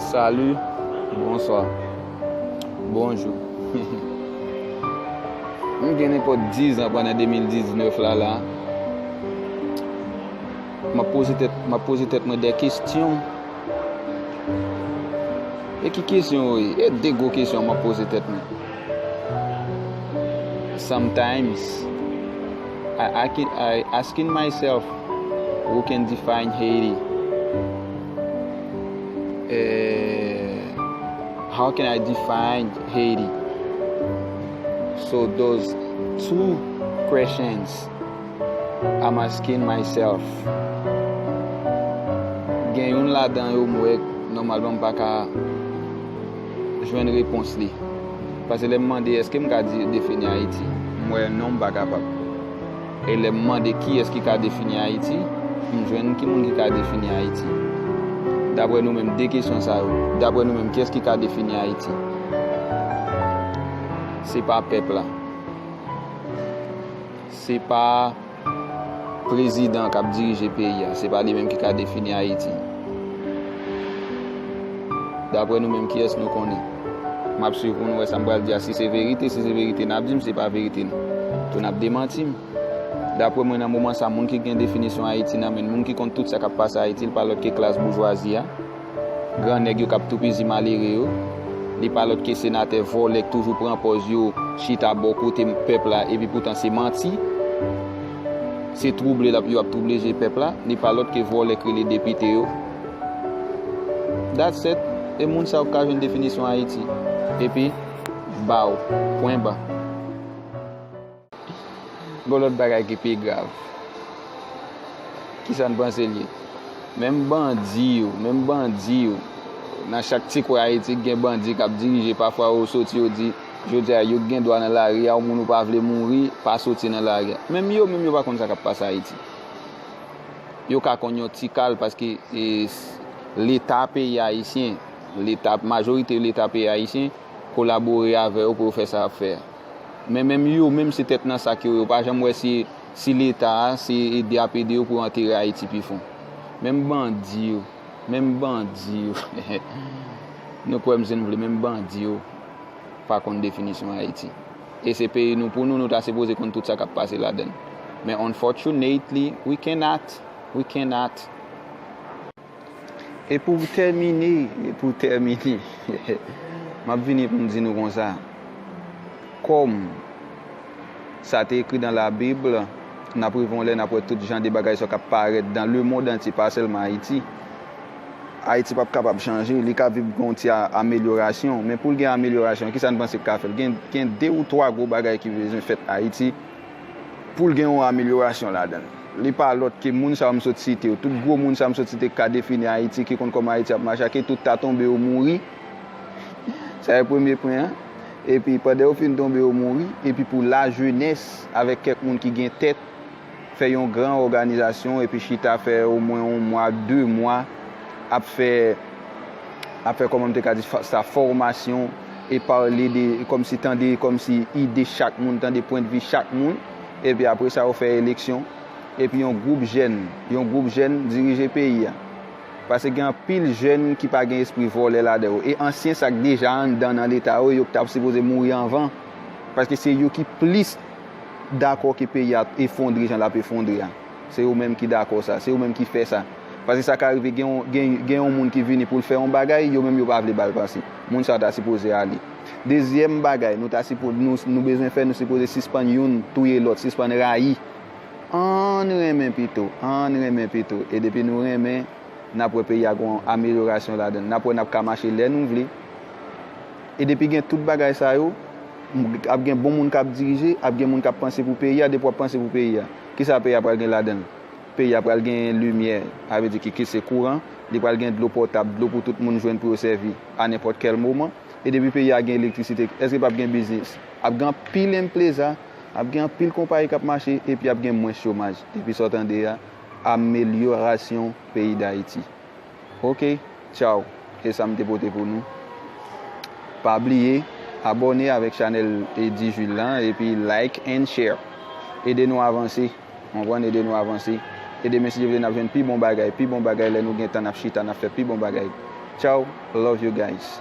Salut Bonsoir Bonjou M gen nenpòt 10 an pandan 2019 la la M ap poze tèt M ap poze tèt mwen 2 kesyon E ki kesyon yo ye? E de gwo kesyon m ap poze tèt mwen Sometimes I asking myself who can define Haiti? Eehh how can I define Haiti? So those two questions I'm asking myself Gen youn ladan yo m wè nòmalman m pa ka. jwenn repons li. Pase lè m mande èske m ka defini Ayiti, m wè non m pa kapab. E lè m mande kiyès ki ka defini Ayiti, m jwenn ki moun ki ka defini Ayiti. Dapre nou menm, 2 kesyon sa yo, dapre nou menm, kiyès ki ka defini Ayiti? Se pa pèp la. Se pa. Prezidan kap dirije peyi a se pa li menm ki ka defini Ayiti daprè nou menm kiyès nou konnen map swiv pou nou wè sa m pral di a si se verite si se verite nap di m si se pa verite n tou nap demanti m daprè mwen nan moman sa moun ki gen definisyon Ayiti nan men l moun ki konn tout sa kap pase Ayiti l pa lòt ke klas boujwazi a. Gran nèg yo kap toupizi malere yo. Li pa lòt ke senatè vòlè k toujou pran pòz yo chita bò kote pèp la epi poutan se manti. Se twouble lap yo ap twouble je pèp la. Li pa lòt ke vòlè k rele depite yo. That's it. E moun sa yo k ka jwenn definisyon Ayiti. Epi, bow. Pwen ba. Gon lòt bagay ki pi grav. Kisa n panse l ye? Menm bandi yo, menm bandi yo, nan chak ti kwen Ayiti gen bandi k ap dirije, pafwa yo soti yo di, jodi a yo k gen dwa nan lari a, yon moun ou pa vle mouri, pa soti nan lari a. Menm yo menm yo pa konn sa k ap pase Ayiti. Yo ka konn yon ti kal paske Leta peyi ayisyen, Leta, majorite Leta peyi ayisyen kolabore avè yo pou yo fè sa y ap fè a. Men menm yo menm se tèt nan sak yo yo pa janm wè si leta a se ede yap ede yo pou yo antere ayiti pi fon menm bandi yo menm bandi yo nou kwèm si nou vle menm bandi yo pa konn definisyon ayiti e se peyi nou pou nou nou ta sipoze konn tout sa kap pase ladann men unfortunately we cannot we cannot. E pou w tèmine, e pou w tèmine, m ap vini pou m di nou konsa, kòm sa te ekri dan labib, n ap rive yon lè n ap wè tout jan de bagay sa yo k ap parèt dan lemond antye, pa sèlman Ayiti. Ayiti p ap kapab chanje, li ka vib gen yon ti amelyorasyon, men pou l gen amelyorasyon, ki sa n panse k ka fè l? Gen de ou twa gwo bagay ki bezwen fèt Ayiti. poul gen yon amelyorasyon ladann. Li pa lòt ke moun sa yo m sot site yo. Tout gwo moun sa yo m sot site ki ka defini Ayiti, ki konn kòman Ayiti ap mache a, ke tout ta tonbe yo mouri, sa e premye pwen an, epi pandan yo fin tonbe yo mouri, epi pou lajenès avèk kèk moun ki gen tèt fè yon gran òganizasyon epi chita fè omwen yon mwa, de mwa, ap fè ap fè kòman m te ka di sa fòmasyon e pale de kòm si tande kòm si ide chak moun tande pwendvi chak moun epi apre sa yo fè eleksyon epi yon gwoup jèn yon gwoup jèn dirije peyi a pase gen anpil jèn ki pa gen espri vòlè ladan yo e ansyen sa k deja anndan nan leta yo yo k ta sipoze mouri anvan paske se yo ki plis dakò ke peyi a efondre jan l ap efondre a. Se ou menm ki dakò sa. Se ou menm ki fè sa. Paske sa ka rive gen yon, gen, gen yon moun ki vini pou l fè yon bagay, yo menm yo pa vle ba l pase. Moun sa a ta sipoze ale. Dezyèm bagay nou ta sipo, nou, nou bezwen fè, nou sipoze sispann youn touye lòt, sispann rayi. Ann renmen pito. Ann renmen pito. E depi nou renmen, n ap wè peyi a gon amelyorasyon ladan l. N ap wè n ap ka mache lè nou vle. E depi gen tout bagay sa yo, ap gen bon moun k ap dirije, ap gen moun k ap panse pou peyi a. Depi w ap panse pou peyi a. Kisa peyi a pral gen ladan l? Peyi a pral genyen limyè, sa vle di ki ki se kouran, li pral gen dlo potab, dlo pou tout moun jwenn pou yo sèvi a nenpòt kèl moman. E depi peyi a gen elektrisite, èske p ap gen biznis? Ap gen anpil enpleza, ap gen anpil konpayi k ap mache epi ap gen mwens chomaj. Epi sa w tande a, amelyorasyon peyi Dayiti. Ok tchau se sam te pote pou nou pa bliye abone avek chanel Eddy Jules lan epi like and share ede nou avanse konprann ede nou avanse ede men si Dye vle nap jwenn pi bon bagay pi bon bagay lè nou gen tan nap chita nap fè pi bon bagay tchau love you guys.